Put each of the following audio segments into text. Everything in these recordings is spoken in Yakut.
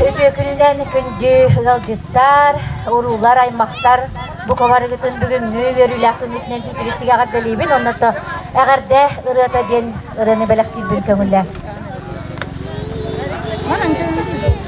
Үтүөкүлүнэн күндү ыалдьыттар, уруулар, аймахтар, бука барыгытын бүгүҥҥү үөрүүлээх күҥҥүтүнэн титиристик эҕэрдэлиибин уонна то эҕэрдэ ырыата диэн ырыаны бэлэхтиирбин көҥүллээҥ.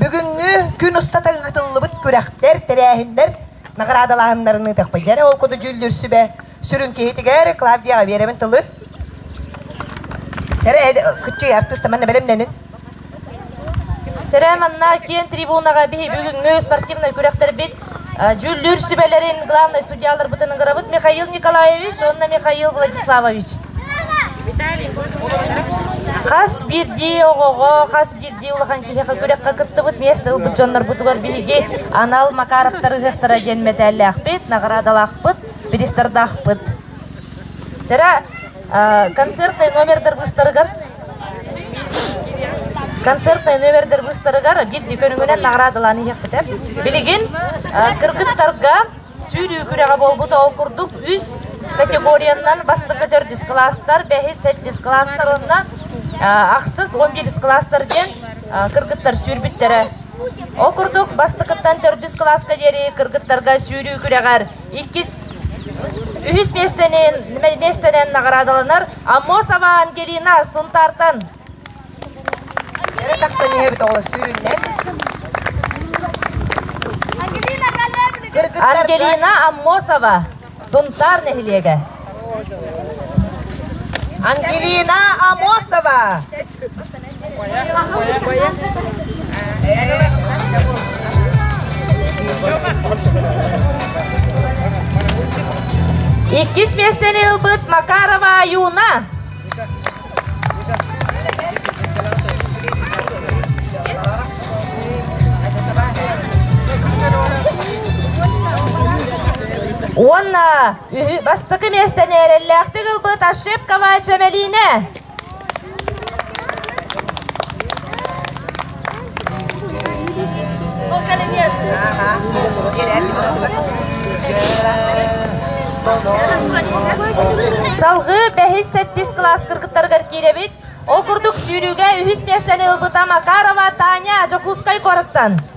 Бүгүҥҥү күн устата ыытыллыбыт күрэхтэр, тэрээһиннэр наҕараадалааһыннарын ыытыахпыт. Дьэ, ол курдук дьүүллүүр сүбэ сүрүн киһитигэр Клавдия Аверевын тылы. Кыччый артыыста манна бэлэмнэнин. Чэрэ манна киэн трибунаға биһи бүгүҥҥү спортивный күрэхтэрбит Дьүүллүүр сүбэлэрин главнай судьяларбытын ыҥырабыт Михаил Николаевич уонна Михаил Владиславович. Хас биирдии оҕоҕо, хас биирдии улахан киһиэхэ күрэххэ кыттыбыт миэстэ ылбыт дьоннорбутугар биһиги анал Макаровтар ыһыахтара диэн мэтээллээхпит, наҕараадалаахпыт, пристардаахпыт. Вчера Концертнай номердар быстарыгар концертнай номердар быстарыгар биирди көрүҥүнэн наградалаан иһиэхпитэ. Билигин кыргыттарга сүүрүү күрэҕэ буолбут ол курдук үс категориянан бастырга төрдүс класстар, бэһис, сэттис класстар уонна ахсыс, он бирис класстар диэн кыргыттар сүүрбүттэрэ. Ол курдук бастыкыттан төрдүс класска диэри кыргыттарга сүүрүү күрэҕэр иккис үһүс миэстэни миэстэнэн наҕараадаланар Амосова Ангелина Сунтаартан. Кэрэ тахсан иһэ бөтөҕөлөстүүрүннэн. Ангелина Аммосова Сунтаар нэһилиэгэ. Ангелина Амосова Иккис миэстэни ылбыт Макарова Юна. Уонна үһү бастакы миэстэни эрэллээхтик ылбыт Ошибкова Чэмэлиинэ. Салгыы бэһис сэттис кылаас кыргыттарыгар киирэбит. Ол курдук сүүрүүгэ үһүс миэстэни ылбыта Макарова Таня Дьокуускай куораттан.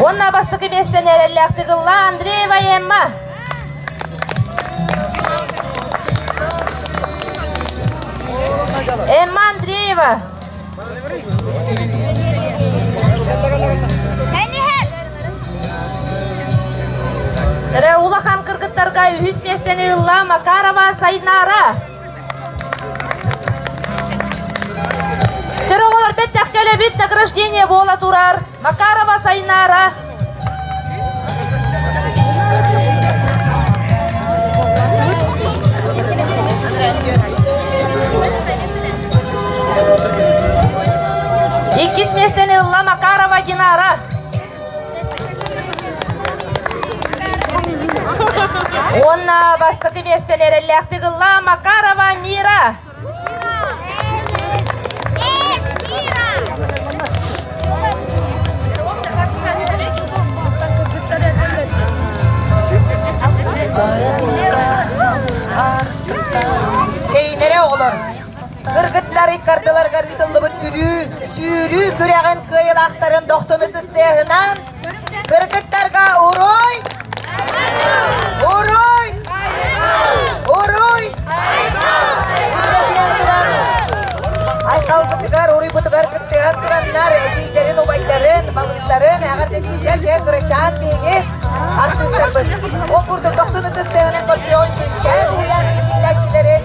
Уонна бастакы миэстэнэн эрэллээхтик ылла Андрей Ваемма. Эмма Андреева. Раула хан кыргыттарга үһүс миэстэни ылла Макарова Сайнара. Сороҕолор бэттэх кэлэбит награждение буола турар Макарова Сайнаара. Иккис миэстэни ылла Макарова Динара. Уонна бастакы миэстэни эрэллээхтик ылла Макарова Мира. Чейнере оҕолор. Кыргыттар иккардыларыгар ыытыллыбыт сүүрүү, сүүрүү күрэҕин кыайыылаахтарын дохсун ытыс тыаһынан кыргыттарга уруй! Уруй! Уруй! Үрдэ диэн туран айхалбытыгар, уруйбутугар кыттыһан тураннар эдьиийдэрин, убайдарын, балыстарын эҕэрдэлииллэр диэн кырачаан биһиги артыыстарбыт. Ол курдук дохсун ытыс тыаһынан көрсүөн күнтэн уйан иитиллээччилэрин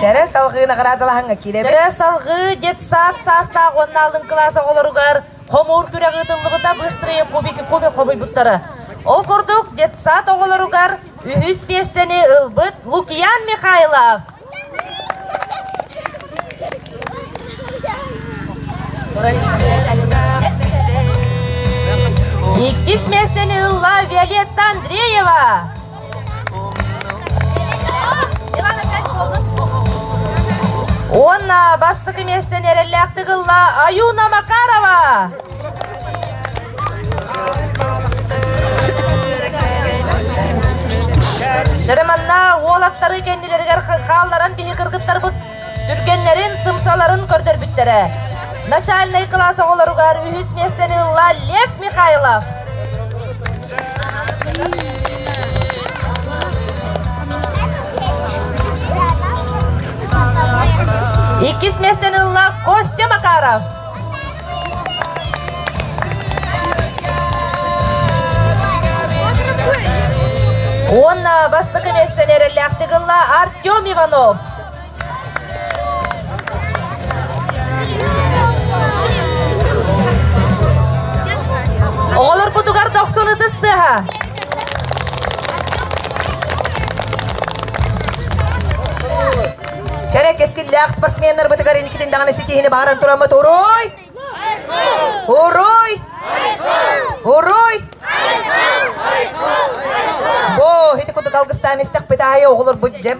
Чара салгыы наҕараадалаһаҥҥа киирэбит. Чара салгыы детсад саастаах уонна алын кылаас оҕолоругар хомуур күрэх ыытыллыбыта быстрые кубики кубик хомуйбуттара. Ол курдук детсад оҕолоругар үһүс миэстэни ылбыт Лукиян Михайлов Иккис мессeni ылла Виолетта Андреева. Онна бастакы мессені эреллээхтик ылла Аюна Макарова. Нырыманна уол аттары кэннилэригэр хаалларан биһи кыргыттарбыт түргэннэрин, сымсаларын көрдөрбүттэрэ. Начальнай класс оҕолоругар үһүс миэстэни ылла Лев Михайлов. Иккис миэстэни ылла Костя Макаров. Уонна бастакы миэстэни эрэллээхтик ылла Артем Иванов. Оҕолорбутугар дохсун ытыс тыаһа. Чэрэ кэскиллээх спортсменнарбытыгар инникитин даҕаны ситиһини бааран тураммыт уруй! Уруй! Уруй! Бо, ити курдук алгыстаан истэхпит аайы оҕолорбут дьэм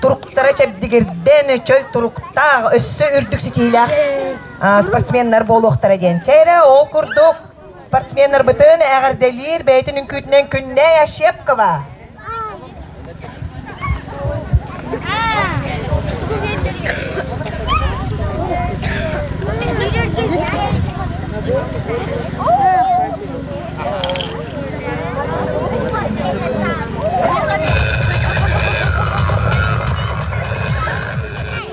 туруктара чэбдигирдэн, чөл туруктаах, өссө үрдүк ситиһиилээх спортсменнар буолуохтара диэн. Чэ эрэ, ол курдук Спортсменнарбытын эҕэрдэлиир бэйэтин үҥкүүтүнэн Күннэй Ощепкова.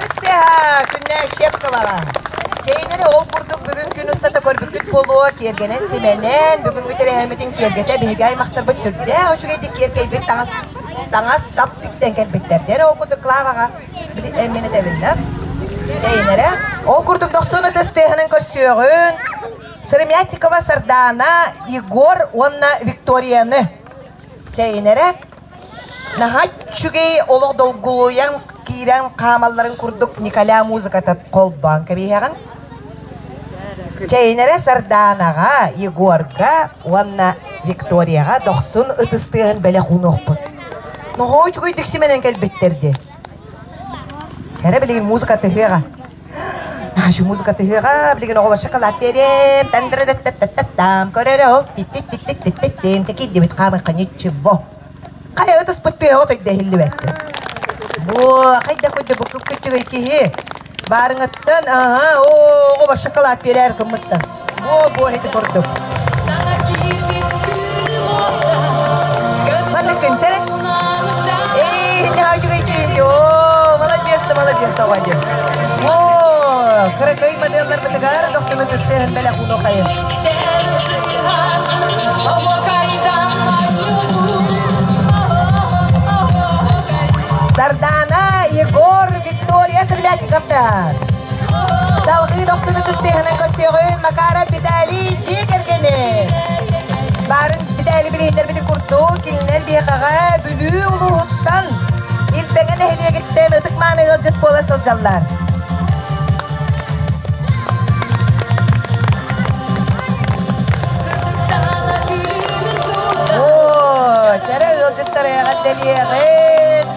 Кыстыһа, күннээ Щепковаҕа. Чэйинэри ол курдук бүгүн күн устата көрбүккүт буолуо, тиэргэнэн симэнэн, бүгүҥҥү тэрээһиммитин киэргэтэ биһиги аймахтарбыт сүрдээх үчүгэйдик киэргэйбит таҥас таҥас сап тиктэн кэлбиттэр. Дьэр ол курдук Клаваҕа эмин этэбиннэ. Чэйинэрэ ол курдук дохсун ытыс тыаһынан көрсүөҕүн Сыромятникова Сардаана, Егор уонна Викторияны. Чэйинэрэ Наһаа үчүгэй олох долгулуйан киирэн хаамалларын курдук Николя музыката холбоон кэбиһэҕин. Чэйнэрэ Сардаанаҕа, Егорга уонна Викторияҕа дохсун ытыстыаһын бэлэх уунуохпут. Наһаа үчүгүйдик симэнэн кэлбиттэр дии. Эрэ билигин музыка тыһыаҕа. Нашу музыка тыһыаҕа, билигин оҕобор шоколад биэриэм, тандырыдаттаттаттам, көрөрө ол титтиттиттиттиттим, тикирдибит хаамын ханьыччыбо. Хайа ытыспыт тыаҕа той да иһиллибэккэ. Бу хайда куддубуккуккуччугай киһи Баарыҥыттан, аһа, оо, оҕо шоколад биэрээр гыммыттан. Буо, буо, ити курдук. Маннык көнчәрек. Эй, иннеҕа үчүгэй тириин дии. Оо, маладьыас да маладьыас оҕа дии. Оо, кыракый моделлар бытыгар дохсуну тыстыырын бэлэх уну хайын. Сардана Егор Виктория Стрелятниковтар. Салгыы тохтуну кыстыһынан көрсүөҕүн Макара Виталий дьиэ кэргэнэ. Барын Виталий билиһиннэрбитин курдук, кинилэр биэхаҕа Бүлүү улууһуттан Илбэҥэ нэһилиэгиттэн ытык мааны ыалдьыт буола сылдьаллар. Оо, чэрэ ыалдьыттар эҕэрдэлиэҕин!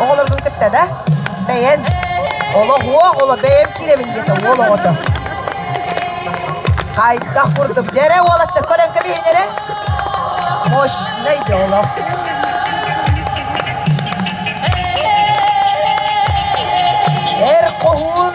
Оҕолоргун кытта да бэйэн олох уо оҕоло бэйэм киирэбин диэтэ уол оҕото. Хайдах курдук дьэрэ уолатта көрөн кэбиһин эрэ. Мощнай да олох. Эр хоһуун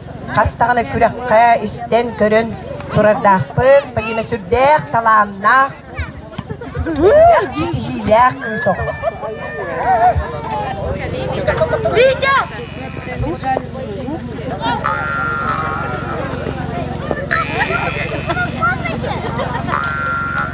хас даҕаны күрэххэ истэн көрөн турардаахпын Полина сүрдээх талааннаах элбэх ситиһиилээх кыыс оҕо Витя!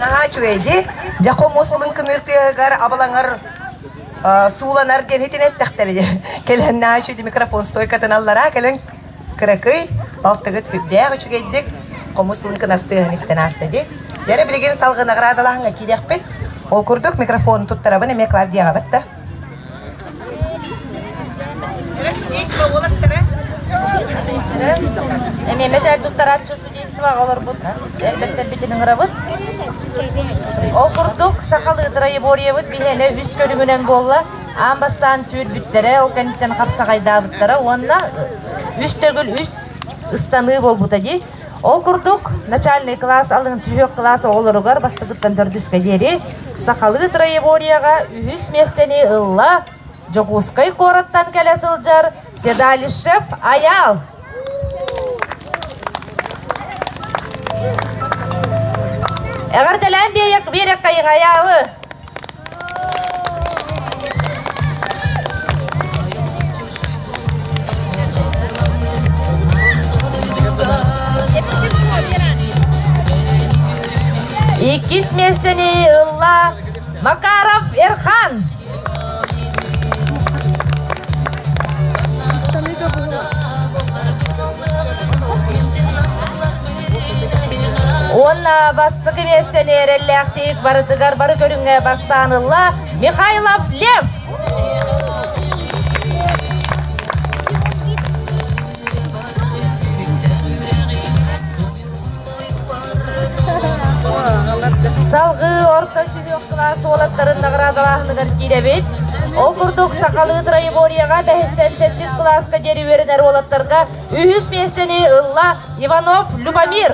Наһаа үчүгэйди, дьэ хомус мын кыныыр тыаһыгар абылаҥар сууланар диэн итин эттэхтэрэ кэлэн наачу микрофон стойкатын аллараа кэлэн кыракый балтыгыт үрдээх үчүгэйдик хомус ылын кынастыаһын истэн ааста ди дәрэ билигин салгы наградалаһыңа киидэхпит ол курдук микрофон туттарабын эме Клавдияҕабыт да Эмиэмэтэр туттарааччы Издаваҕа олорбут элбэттэрбитин ыҥырабыт. Ол курдук, сахал ытырайы буоруйабыт биһиэнэ үс көрүҥүнэн буолла. Аан бастаан сүүрбүттэрэ, ол кэнниттэн хапсаҕайдаабыттара уонна үс төгүл үс ыстаныы буолбута дии. Ол курдук, начальный кылаас алын сүһүөх кылаас оҕолоругар бастакыттан төрдүскэ диэри сахалыы троеборияҕа үһүс миэстэни ылла Дьокуускай куораттан кэлэ сылдьар Седалищев Аял. Эҕэрдэлээн биэрэккэйиҥ Аялы! Иккис миэстэни ылла Макаров Эрхан. Уонна бастакы месте нереллээхтик барытыгар бары көрүҥҥэ бастаанылла Михайлов Лев. Салгыы орта Өлүөхсулаах суолаттарын наҕараадалааһыныгар киирэбит. Ол курдук, сахалыы троеборьеҕа бэһистэн сэттис кылааска диэри үөрэнэр уолаттарга үһүс миэстэни ылла Иванов Любомир.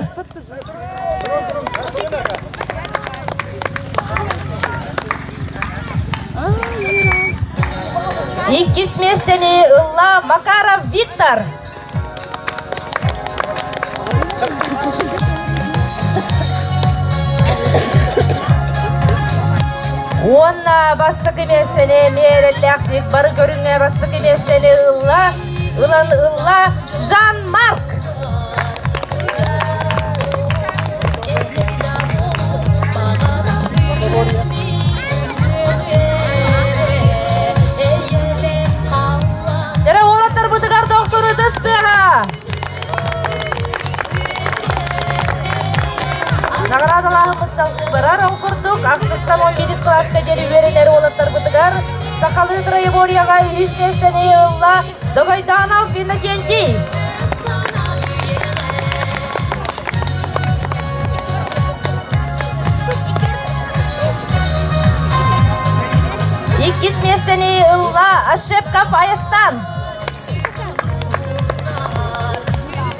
Иккис миэстэни ылла Макаров Виктор. Уонна бастакы миэстэни миэрэллээхтик бары көрүҥэ бастакы миэстэни ылла, ылан ылла Жан-Марк. Эрэ уолаттарбытыгар дохсун ытыс тыаһа! Наҕараадалаахымыт салгыбарар ол курдук артыстам 11 кылааска диэри үөрэтэр уолаттарбытыгар сахалыы троеборьеҕа үһүс миэстэни ылла Догойдоонов Иннокентий. Иккис местени ылла ошибка поездтан.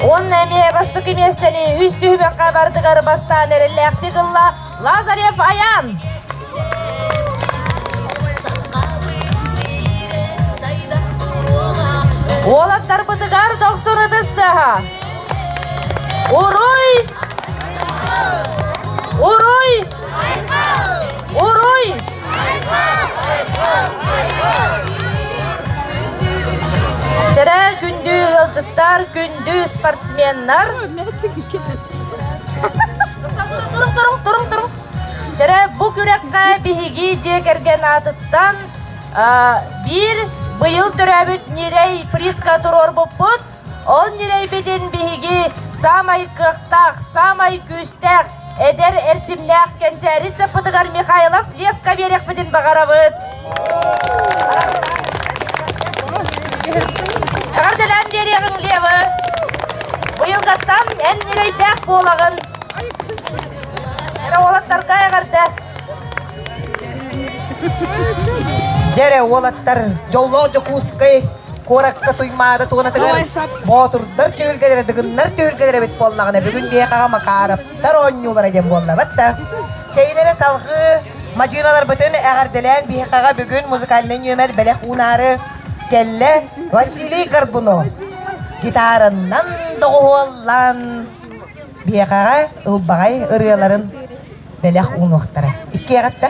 Онна эмиэ бастакы местени үс түһүмэххэ барытыгар бастаан эрэллээхтик ылла Лазарев Аян. Уолаттарбытыгар дохсун ытыстыһа. Уруй! Уруй! Уруй! Вчера күндү ыалдьыттар, күндү спортсменнар. Turun turun turun turun. Чэрэ бу күрэххэ биһиги дьиэ кэргэн аатыттан биир быйыл төрөөбүт ньирэй приска туруорбуппут. Ол ньирэйбитин биһиги саамай кыахтаах, саамай күүстээх эдэр эрчимнээх кэнчээри чаппытыгар Михайлов Левка биэриэхпитин баҕарабыт. Эҕэрдэлээн биэриэҕиҥ Лева! Быйылгаттан эн ньирэйдээх буолаҕын! Эрэ уолаттарга эҕэрдэ! Дьэрэ уолаттар Дьоллоох Дьокуускай куоракка Туймаада туонатыгар боотурдар түһүлгэлэрэ дыгыннар түһүлгэлэрэ эбит буоллаҕына бүгүн биһиэхэҕэ Макаровтар оонньуулара диэн буоллабат да чэйин эрэ салҕыы мадьыыналарбытын эҕэрдэлээн биһиэхэҕэ бүгүн музыкальнай нүөмэр бэлэх уунаары кэллэ Василий Горбунов гитаранан доҕуһуоллаан Биэхэҕэ ылбаҕай ырыаларын бэлэх уунуохтара. Иккиэҕиттэ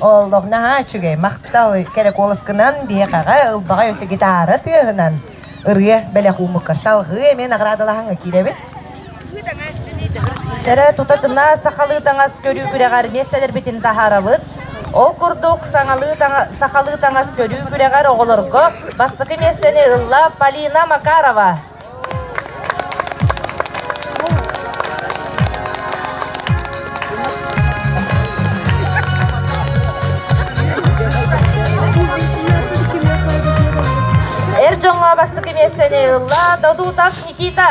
Олох наһаа үчүгэй, махтал. Кэрэ куоласкынан биһикэҕэ ылбаҕай өссө гитара тыаһынан ырыа бэлэх уумуккар салҕыы эмиэ наҕараадалаһаҥҥа киирэбит. Кэрэ тутатына сахалыы таҥас көрүү күрэҕэр миэстэлэрбитин таһаарабыт. Ол курдук саҥалыы таҥа- сахалыы таҥас көрүү күрэҕэр оҕолорго бастакы миэстэни ылла Полина Макарова. Эр дьоҥҥо бастакы миэстэни ылла Додутов Никита.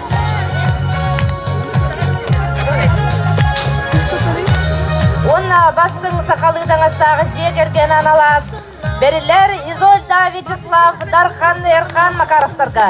Уонна бастыҥ сахалыы таҥастаах дьиэ кэргэн аналаас бэрилэр Изольда Вячеслав Дархан Эрхан Макаровтарга.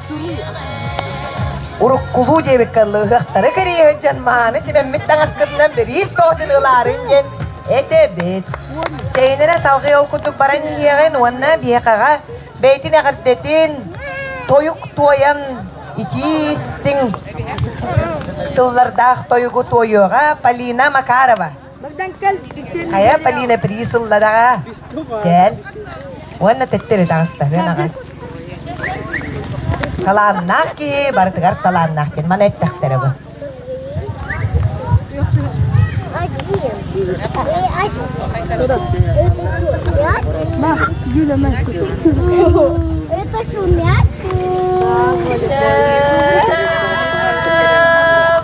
Уруккулуу диэбиккэ ылыһыахтары кэриэһэ дьон мааны сибэммит таҥаскытынан бириис тоҕотун ылаарын диэн этэбит. Чэйинэрэ салгыы ол курдук баран иһиэҕин уонна биһиэхэҕэ бэйтин эҕэрдэтин тойук туойан итии истиҥ тыллардаах тойугу туойуоҕа Полина Макарова. Хайа, Полина, прии сыллараҕа кэл уонна төттөрү таҕыста ыанаҕа. Талааннаах киһи барытыгар талааннаах диэн маны эттэхтэрэ бу. Ма, Юля, ма. Это шумят.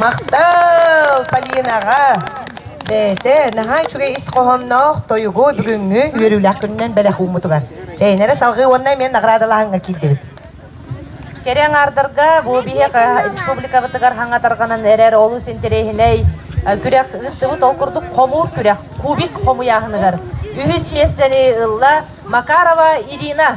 Махтал Полинаҕа! Бэйэтэ наһаа үчүгэй ис хоһоонноох тойугу бүгүҥҥү үөрүүлээх күнүнэн бэлэх ууммутугар. Чэйнэрэ салҕыы уонна мен наградалааһыҥҥа киирдибит. Кэрэ аҥаардарга бу биһиэхэ республикабытыгар хаҥа тарҕанан эрэр олус интэриэһинэй күрэх ыыттыбыт. Ол курдук хомуур күрэх Кубик хомуйааһыныгар үһүс миэстэни ылла Макарова Ирина.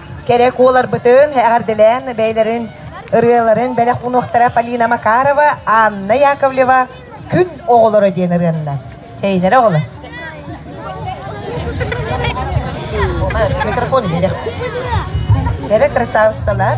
кэрэ куоларбытын эҕэрдэлээн бэйэлэрин ырыаларын бэлэх уунуохтара Полина Макарова, Анна Яковлева Күн оҕолоро диэн ырыанна. Чэйдэрэ оҕолор. Микрофон берег. Бері красавицалар.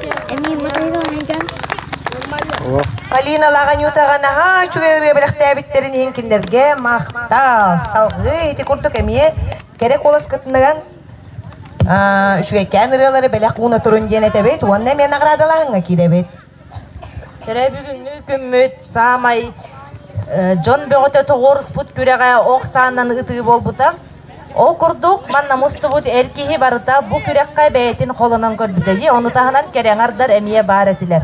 Полина Лаганютова наһаа үчүгэй ырыа бэлэхтээбиттэрин иһин кинилэргэ махтал. Салгыы ити курдук эмиэ кэрэ куолас кытынаган үчүгэйкээн ырыалары бэлэх ууна турун диэн этэбит уонна эмиэ наҕараадалааһыҥҥа киирэбит. Кэрэ бүгүҥҥү күммүт саамай дьон бөҕөтө тоҕуоруспут күрэҕэ ох саанан ытыы буолбута. Ол курдук, манна мустубут эр киһи барыта бу күрэххэ бэйэтин холонон көрбүтэ дии, ону таһынан кэрэҥардар эмиэ баар этилэр.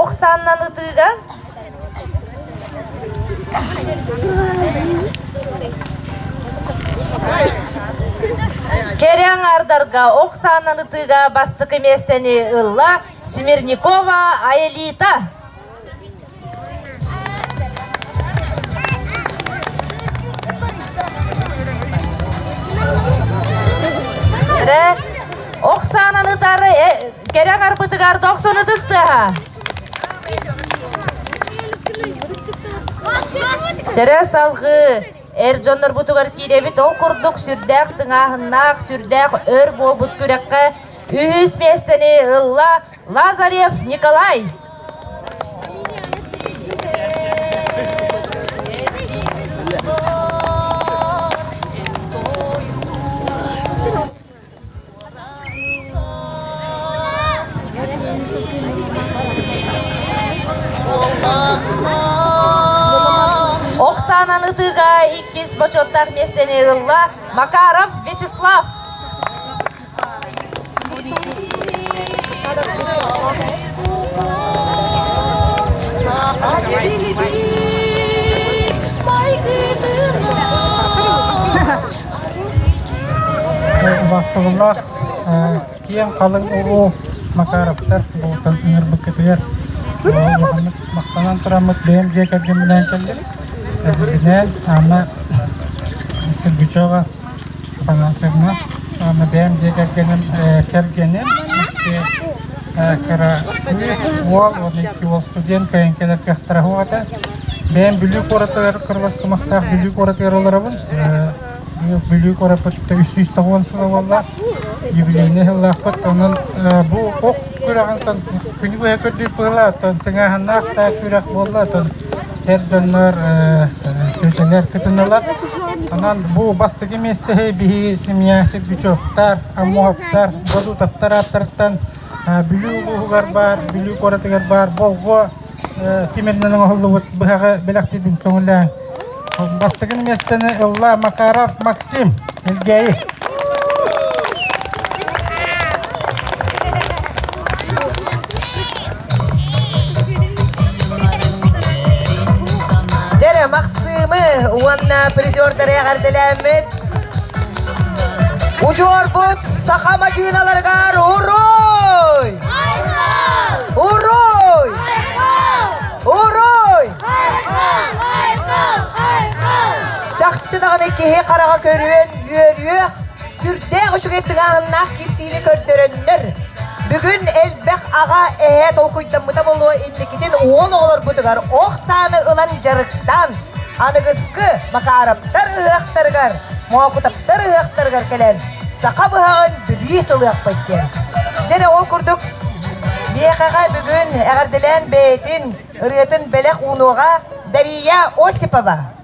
Ох саннан ытыыга Кэрэҥардарга ох саннан ытыыга бастакы миэстэни ылла Смирникова Аэлита. Ре, Оксананы тары э, керек арпытыгар токсону тыстыха. Чара салгы эр дьоннор бутугар кииребит ол курдук сүрдээх тыңааһыннаах, сүрдээх өр буолбут күрэххэ үһүс миэстэни ылла Лазарев Николай! Оксананы сыыга иккис бочуоттаах миэстэни ылла Макаров Вячеслав. Бастылылар киэн халыҥ уруу Макаровтар бултан ыҥырбыккытыгар улаханнык махтанан тураммыт бэйэм дьиэ кэргэмминээн кэллим. Эзибинээн Анна Сергучева Анасовна, аны бэйэм дьиэ кэргэним кэргэним икки кыра кыыс уол уонна икки уол студент кыайан кэлэр кыахтара суох этэ. Бэйэм Бүлүү куоратыгар кыралас кымахтаах Бүлүү куоратыгар олоробун. Бүлүү куораппытта үс сүүс тоҕуон сыла буолла. Юбилейнай сыллаахпыт. Онон бу ох күрэҕинтэн күнү быһа көрдүүр быһыылаах, тыҥааһыннаах да күрэх буолла. Сэр дьоннор күчэҥэр кытыналар. Онон бу бастакы миэстэһи биһиги семья Сердючевтар, Аммовтар, Бодутовтар ааттарыттан Бүлүү улууһугар баар, Бүлүү куоратыгар баар Болго тимиринэн оҥоһуллубут быһаҕы бэлэхтиирбин көҥүллээн. Бастакы миэстэни ылла Макаров Макс Ким? Элгээйи. Дэрэ Максымы уонна призердары эҕэрдэлээммит учуорбут саха мадьыыналарыгар уруй! Уруй! Уруй! Чахчы даҕаны киһи хараҕа көрүөн үөрүөх, сүрдээх үчүгэй тыҥааһыннаах киирсиини көрдөрөннөр. Бүгүн элбэх аҕа эһээ толкуйдаммыта буолуо инникитин уол оҕолорбутугар ох сааны ылан дьарыктаан, аныгыскы Макаровтар ыһыахтарыгар, Моокутаптар ыһыахтарыгар кэлэн саха быһаҕын билии сылыахпыт диэн. Дьэ ол курдук миэхэҕэ бүгүн эҕэрдэлээн бэйэтин ырыатын бэлэх уунуоҕа Дария Осипова.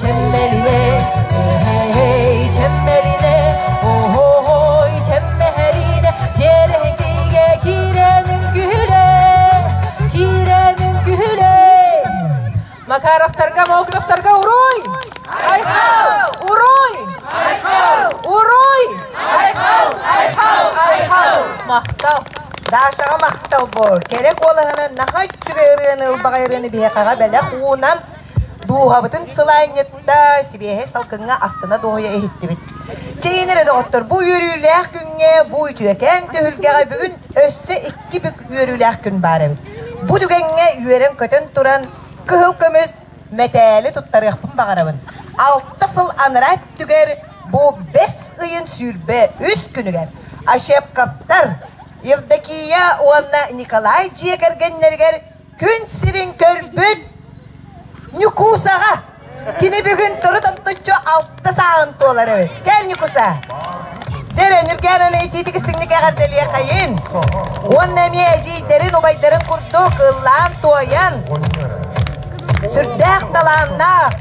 Чэмбэлинэ, эһээй чэмбэлинэ, оһой чэмбэһэлинэ, дьиэлэһинкигэ киирэнин күһүлэ, киирэнин күһүлэ. Макаровтарга, Молотовтарга уруй! Айхал! Уруй! Айхал! Уруй! Айхал! Айхал! Айхал! Махтал! Дашаҕа махтал боо! Кэрэ куолаһынан наһаа үчүгэй ырыаны, ылбаҕай ырыаны биһиэхэҕэ бэлэх уунан Дууһабытын сылаанньытта, сибиэһэй салкыҥҥа астына-дуоһуйа иһиттибит. Чэйин эрэ доҕоттор, бу үөрүүлээх күҥҥэ, бу үтүөкэн түһүлгэҕэ бүгүн өссө икки бүк үөрүүлээх күн баар эбит. Бу түгэҥҥэ үөрэн-көтөн туран, кыһыл көмүс мэтээли туттарыахпын баҕарабын. Алта сыл анараа өттүгэр бу бэс ыйын сүүрбэ үс күнүгэр Ощепковтар Евдокия уонна Николай дьиэ кэргэннэригэр Күн сирин көрбүт Ньукуусаҕа. Кини бүгүн турут омтуччу алта сааҕын туолар эбит. Кэл, Ньукуса! Сэрэ, Ньургээнэни итиитик истиҥник эҕэрдэлиэххэйин! Уонна эмиэ эдьиийдэрин, убайдарын курдук ыллаан-туойан, сүрдээх талааннаах,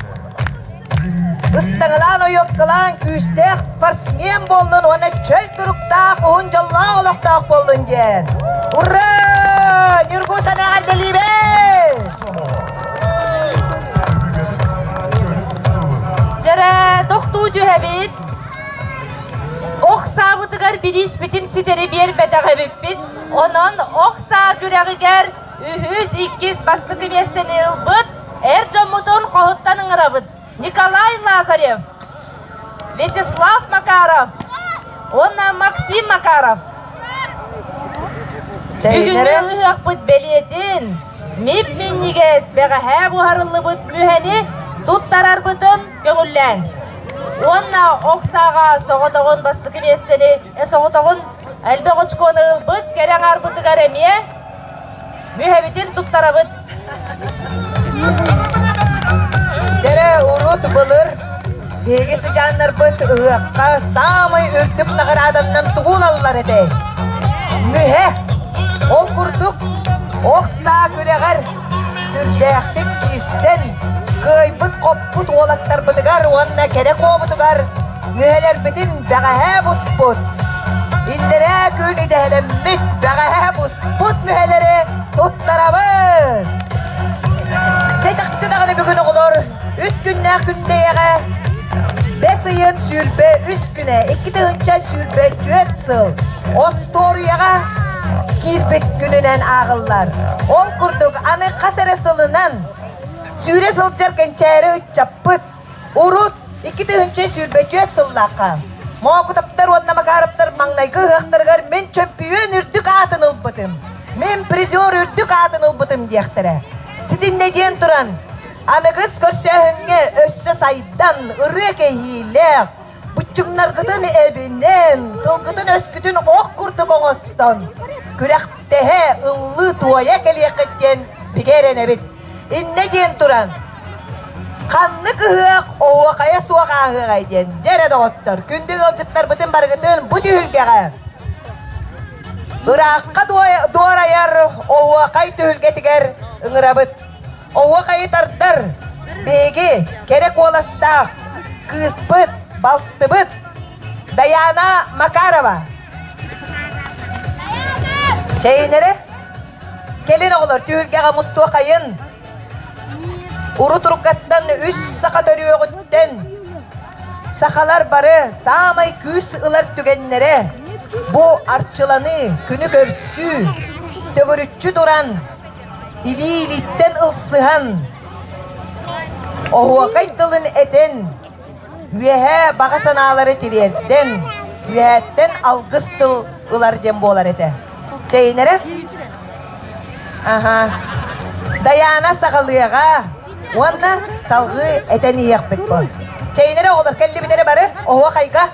Ыстаҥалаан ойуоккалаан күүстээх спортсмен буоллун уонна чөл туруктаах уһун дьоллоох олохтоох буоллун диэн. Ура! Ньургу санаа эҕэрдэлиибит! Дьэрэ, тохтуу түһэбит. Охсаабытыгар бирииспитин ситэри биэрбэтэх эбиппит. Онон ох саа күрэҕигэр Үһүс, иккис бастакы миэстэни ылбыт эр дьоммутун хоһуттан ыҥырабыт. Николай Лазарев, Вячеслав Макаров уонна Максим Макаров. Бүгүҥҥү ылыһыахпыт бэлиэтин МИП минньигэс бэҕэһээ буһарыллыбыт мүһэни туттарарбытын көҥүллээн уонна оксаҕа соҕотоҕун бастакы миэстэни соҕотоҕун элбэх очкону ылбыт кэрэ аҥаарбытыгар эмиэ Мүһэбитин туттарабыт. Дэрэ урут былыр биһиги сыдьааннарбыт ыһыахха саамай үрдүк наҕарааданнан тугуналлар этэй? Мүһэ. Ол курдук ох саа күрэҕэр сүрдээхтик киирсэн кыайбыт-оппут уолаттарбытыгар уонна кэрэ хообутугар Үһэлэрбитин бэҕэһээ буспут, иллэрээ күн идэһэлэммит бэҕэһээ буспут үһэлэри туттарабыт! Дьэ, чахчы даҕаны бүгүн оҕолор үс күннээх күндэйэҕэ бэс ыйын сүүрбэ үс күнэ, икки тыһыынча сүүрбэ түөрт сыл остуоруйаҕа киирбит күнүнэн ааҕыллар. Ол курдук аны хас эрэ сылынан сүүрэ сылдьар кэнчээри ыччаппыт Урут икки тыһыынча сүүрбэчүөт сыллаахха Моокутаптар уонна Макараптар маҥнайгы ыһыахтарыгар мин чөмпүйүөн үрдүк аатын ылбытым, мин призер үрдүк аатын ылбытым диэхтэрэ. Ситиннэ диэн туран, аныгыс көрсөөһүҥҥэ өссө сайдан, ырыа кэһиилээх, Быччыҥнаргытын эбинэн, тылгытын-өскүтүн ох курдук оҥостон, күрэхтэһэ, ыллыы-туойа кэлиэххит диэн бигэ эрэнэбит. Иннэ диэн туран, ханнык ыһыах оһуохайа суох ааһыаҕай диэн, дьэ эрэ доҕоттор, күндү ыалдьыттарбытын барыгытын бу түһүлгэҕэ ыраахха дуорайар оһуохай түһүлгэтигэр ыҥырабыт. Оҕуохайы тардар! Биһиги кэрэ куоластаах кыыспыт, балтыбыт Дайаана Макарова. Чэйинэрэ, кэлин оҕолор түһүлгэҕэ мустуохайын. Уру тургаттан үс саха төрүөҕүттэн сахалар бары саамай күүс ылар түгэннэрэ бу арчыланыы, күнү көрсүү, төгүрүччү туран Илиибиттэн ылсыһан, оһуокай тылын этэн, үөһээ баҕа санаалары тириэрдэн, үөһээттэн алгыс тыл ылар диэн буолар этэ. Чэйинэрэ? Аха. Дайаана саҕалыаҕа уонна салҕыы этэн иһиэхпит бу. Чэйинэрэ оҕолор кэллибит эрэ бары оһуокайга.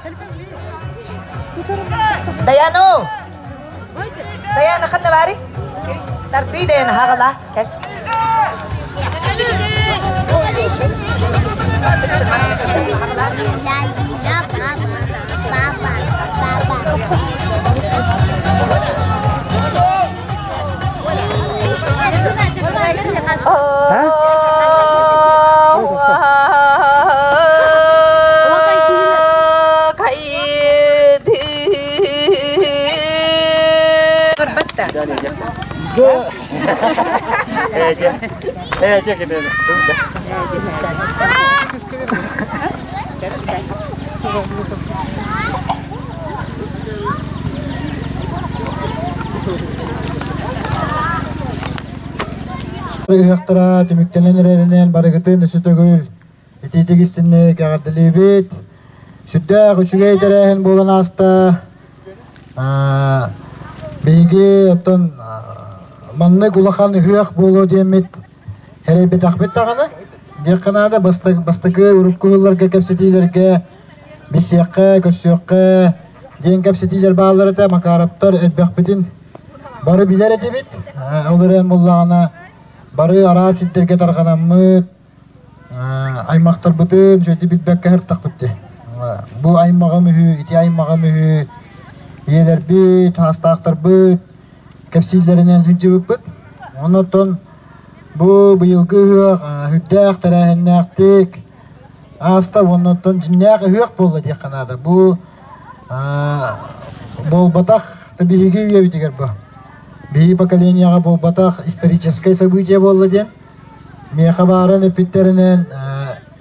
Дайаана Даяна Ханавари, тардыы Даяна Хагалаа, кэл. Барбатта. Ээдьэ кэнэли. Ыһыахтара түмүктэнэн эрэринэн барыгытын өсө төгүл Итиитик истинник эҕэрдэлиибит. Сүрдээх үчүгэй тэрээһин буолан ааста. Биһиги оттон маннык улахан ыһыах буолуо диэммит эрэйбэтэхпит даҕаны, диэххэ наада бастакы уруккуларга кэпсэтиилэргэ билсиэххэ, көрсүөххэ диэн кэпсэтиилэр бааллар этэ Макараптар элбэхпитин бары билэр этибит. Ол эрэн буллаҕына бары араас сирдэргэ тарҕанаммыт, Аймахтарбытын дьэ ити билбэккэ сырыттахпыт дии. Бу аймаҕым үһү, ити аймаҕым үһү, ийэлэрбит, саастаахтарбыт кэпсииллэринэн сылдьыбыппыт. Оннуттан бу быйылгы ыһыах үрдээх тэрээһиннээхтик ааста уоннуттан дьиннээх ыһыах буолла диэххэ наада. Бу буолбатах да биһиги үйэбитигэр бу. Биһиги поколениеҕа буолбатах историческай событие буолла диэн миэхэ бааран эппиттэринэн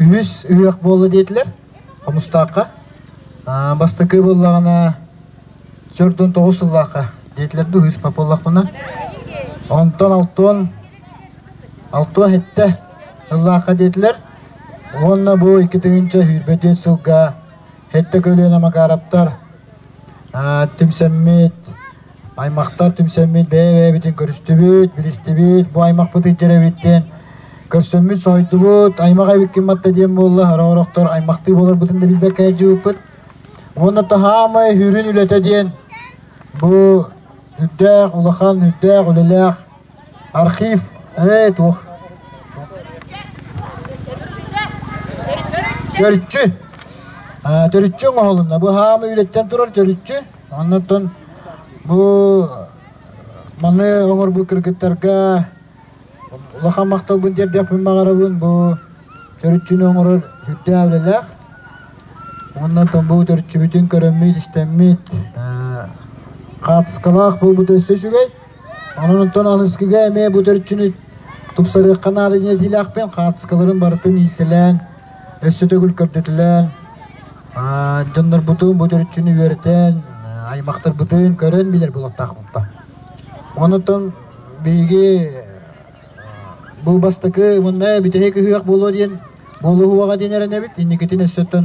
үһүс ыһыах буолла диэтилэр хомустаахха бастакы буоллаҕына төрт уон тоҕус сыллаахха диэтилэр да ыһыспат буоллахпына онтон алтан алтан сэттэ сыллаахха диэтилэр уонна бу икки тыһыынча сүүрбэ түөрт сылга сэттэ көлүөнэ макараптар түмсэммит аймахтар түмсэммит бэйэ-бэйэбитин көрүстүбүт, билистибит, бу аймахпыт ыйдьар эбит диэн көрсөммүт соһуйдубут. Аймах эбиккин матта диэн буолла, ороҕорохтор аймахтыы боларбытын да билбэккэ дьыбыппыт. Уонна таһаамай сүрүн үлэтэ диэн бу үрдээх, улахан, үрдээх үлэлээх Архив ээ туох Төрүччү аа төрүччү оҥоһулунна быһаама үлэттэн турар төрүччү оннуттан бу маны оҥорбут кыргыттарга улахан махталбын тиэрдиэхпин баҕарабын бу төрүччүнү оҥорор сүрдээх үлэлээх оннуттан бу төрүччүбүтүн көрөммүт истэммит хаартыскалаах буолбута өссө үчүгэй Онон онтон алыскыга эмиэ бу төрчүнү тупсарыахха наада диэтиилээхпин хаартыскаларын барытын иилтэлээн өссө төгүл көрдөтүлээн дьоннорбутун бу төрчүнү үөрэтэн аймахтарбытын көрөн билэр буолуохтаахпыппа онутун биһиги бу бастакы уонна бүтэһик ыһыах буолуо диэн буолуһуаҕа диэн эрэнэбит инникитин өссөттөн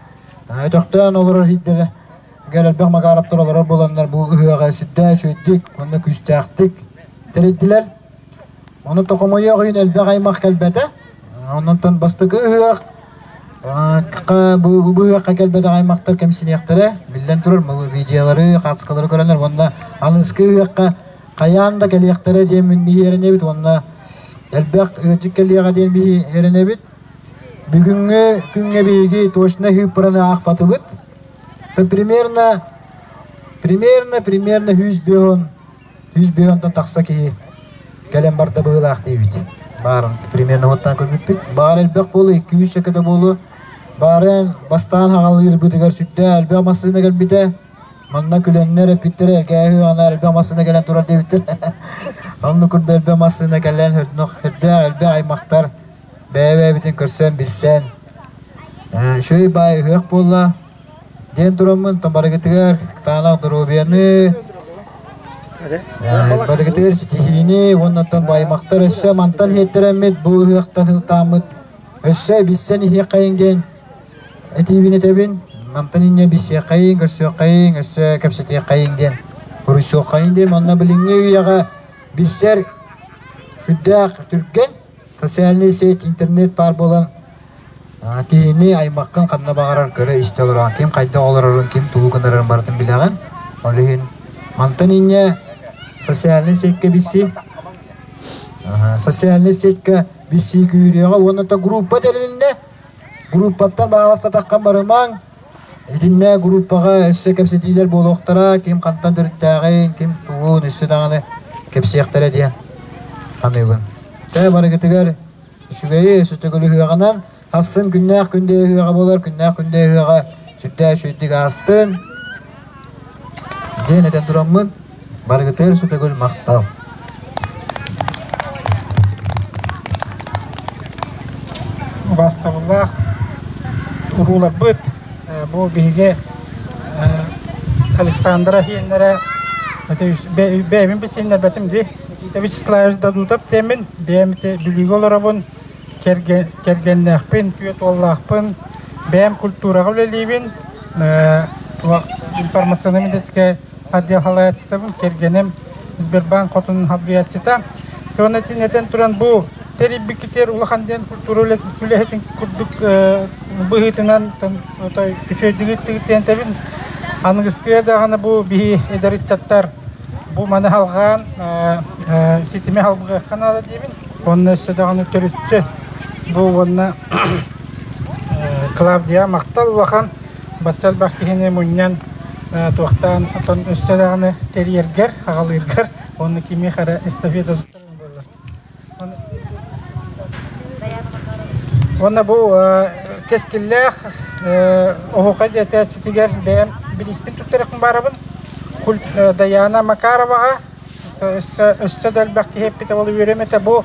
өтөхтөөн олорор иһдэрэ Гэлэлбэх Макараптар олорор буоланнар бу ыһыаҕа сүрдээх үчүгэйдик уонна күүстээхтик тэрийдилэр. Ону токомойуох үйүн элбэх аймах кэлбэтэ. Оннуттан бастакы ыһыах бу ыһыахха кэлбэтэх аймактар кэмсиниэхтэрэ. Биллэн турар, бұл видеолары, қатскалары көрөнөр уонна алыскы ыһыахха қаян да кэлиэхтэрэ диэн мин биһиэренэбит уонна элбэх ыырдьык кэлиэҕэ диэн биһиэренэбит бүгүҥҥү күҥҥэ биһиги точно хыыппыраны аахпатыбыт то примерно примерно примерно сүүс бөһөн сүүс бөһөнтөн тахса киһи кэлэн барда быһыылаах диибит баарын примерно уоттаан көрбүппүт баар элбэх буолу икки үс чөкөтө буолу баарын бастаан хаҕалыырбытыгар сүрдээх элбэх массыына кэлбитэ манна күлэннэр эппиттэрэ кээһи ана элбэх массыына кэлэн турар диэбиттэр оннук курда элбэх массыына кэлэн өрдөөх элбэх аймахтар бэйэ-бэйэбитин көрсөн, билсэн, «Э, «Үчүгэй баай ыһыах буолла» диэн тураммын, то барыгытыгар Кытаанах доруобуйаны, э, барыгытыгар ситиһиини уонна оттон бу аймактар өссө мантан иһиттэрэммит бу ыһыахтан ылтааммыт өссө билсэн иһиэххэйин диэн этиибин этэбин мантан инньэ билсиэххэйин көрсүөххэйин өссө кэпсэтиэххэйин диэн хоруйсуоххайын диэн онно билиҥҥи үйэҕэ билсэр сүрдээх түргэн социальнай сеть, интернет баар буолан киһини аймаккын ханна баҕарар көрө-истэ олороон ким хайда олорорун, ким тугу гынарын барытын билэҕин. Ол иһин мантан инньэ социальнай сетьке билсии. Социальнай сетьке билсии күүрүөҕэ уонна группа тэрилиннэ. Группаттан баҕаласта таххан барымаҥ Итиннэ группаҕа өссө кэпсэтиилэр буолуохтара, ким хантан төрүттээҕин, ким тугун өссө даҕаны кэпсиэхтэрэ диэн саныыбын. Дьэ барыгытыгар үчүгэйи, өссө төгүлү ыһыаҕынан, ахсын күннээх күндэ ыһыаҕа буолар, күннээх күндэ ыһыаҕа сүрдээх үчүгэйдик аастын. Диэн этэн тураммын Барыгытыгар сөтөгүл махтал убаастабыллаах урууларбыт бу биһиги Александра Хиэннэрэ бэйэбин билсиннэрбэтим дии Никита Вячеславович Дадутов диэмин бэйэм билиигэ олоробун кэргэннээхпин түөрт уоллаахпын бэйэм культураҕа үлэлиибин информационнай медицинскэй отделхалааччытабын кэргэним Сбербанк хотун халбуйааччыта. Уонна итин этэн туран бу тэрийбикитигэр улахан диэн культура үлэһитин курдук быһыытынан отой күчөйдүгүттүгүт диэн тэбин аныгыскыга даҕаны бу биһи эдэр ыччаттар бу маны халҕаан ситими халбыгахха наада диибин уонна өссө даҕаны төрүтчү бу уонна Клавдия махтал улахан бачча элбэх киһини мунньан туохтаан отон өссө даҕаны тэрийэргэр, аҕалыыргар уонна кимиэх эрэ эстафета туттарыан буоллар. Уонна бу кэскиллээх оһуха дьэтээччитигэр бэйэм билиспин туттарыахпын баарабын. Дайаана Макароваҕа өссө, өссө да элбэх киһи эппитэ ол үөрүм этэ бу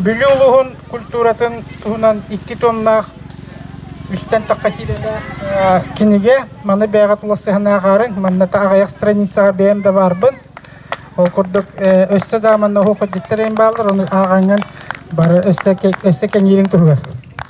Бүлүү улууһун культуратын туһунан икки тоннаах үстэн тахха киилэлээх кинигэ маны бэйэҕэ тулассыһан ааҕаарыҥ манна аҕыйах страницаҕа бэйэм да баарбын ол курдук өссө да манна оһуохайдьыттар эйин бааллар ону ааҕаҥҥын бары өссө өссө кэҥиириҥ туһугар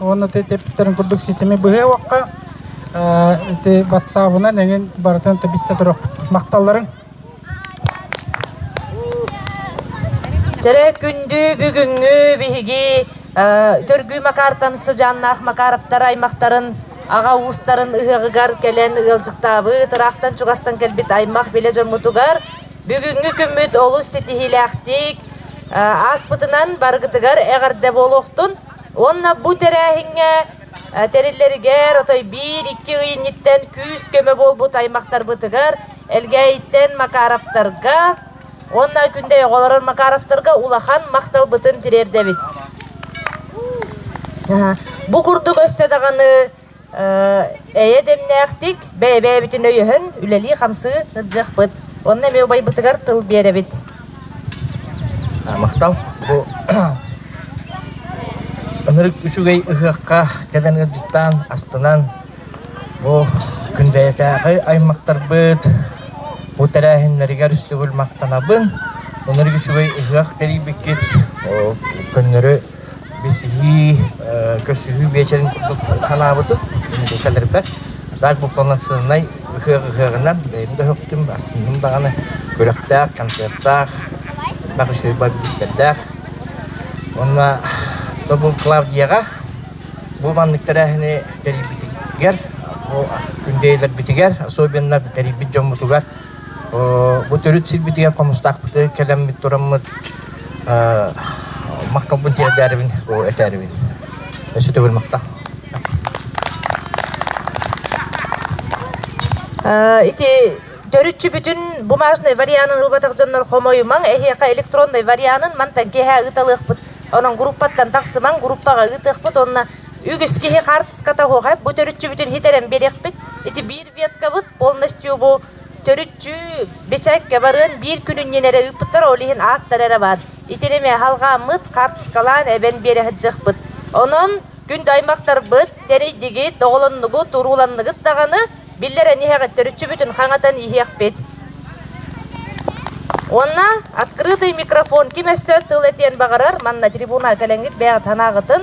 уонна тэпиттэрин курдук ситими быһыа-уокка ити батсаабынан эҥин барытын тэбиссе көрөхпүт махталларын Чэрэ күндү бүгүҥҥү биһиги Төргүү Макартан сыдьааннаах Макараптар аймахтарын аҕа уустарын ыһыаҕыгар кэлэн ыалдьыттаабыт ыраахтан чугастан кэлбит аймах билэ дьоммутугар бүгүҥҥү күммүт олус ситиһиилээхтик ааспытынан барыгытыгар эҕэрдэ буолуохтун Уонна бу тэрээһиҥҥэ тэриллэригэр отой биир-икки ый инниттэн күүс-көмө буолбут аймахтарбытыгар, Элгээйиттэн Макаровтарга уонна Күнтэй оҕолорор Макаровтарга улахан махталбытын тириэрдэбит. Бу курдук өссө даҕаны Эйэ дэмнээхтик, бэйэ-бэйэбитин өйөһөн, үлэлии-хамсыы сылдьыахпыт уонна эмиэ убайбытыгар тыл биэрэбит. Махтал бу ынырык үчүгэй ыһыахха кэлэн ыалдьыттаан, астынан бу Күндэйэтээҕи аймактарбыт бу тэрээһиннэригэр сүгүл махтанабын. Ынырык үчүгэй ыһыах тэрийбиккит көннөрү Бисиһии, көрсүһүү биэчэрин курдук санаабытым, инники кэлэрбэр. Даак бу полноценнай ыһыаҕынан бэйэм да өһөхтүм, астынным даҕаны күрэхтээх, концертаах, бах үчүгэй бarbистэрдээх. Уонна то был Клавдияҕа бу маннык тэрээһини тэрийбитигэр, бу күндээлэрбитигэр, особенно тэрийбит дьоммутугар Бу төрүт сирбитигэр Хомустаахпыты кэлэммит тураммыт махкалбын тиэрдээрибин бу этээрибин өссө төгүл махтах ити төрүтчүбүтүн бумажный варианын ылбатах дьоннор хомойумаң эһиэхэ электронный варианын мантан киэһэ ыталыахпыт онон группаттан тахсымаҥ группаҕа ыытыахпыт онно үгүс киһи хаартыската оһоҕай бу төрүтчүбүтүн хитэрэн биэриэхпит ити биир веткабыт полностью төрүччү бэчээккэ барыан биир күнүнньүн эрэ ыыппыттар ол иһин ааттар эрэ баар итинимэ халгааммыт хартыскалаан эбэн биэрэ сылдьыахпыт онон күндү аймахтарбыт тэрийдигит оҕолоннугут урууланныгыт даҕаны биллэрэн иһэҕит төрүччү бүтүн хаҥатан иһиэхпит Онна открытый микрофон ким өссө тыл этиэн баҕарар манна трибуна кэлэнгит бэйэҕит санааҕытын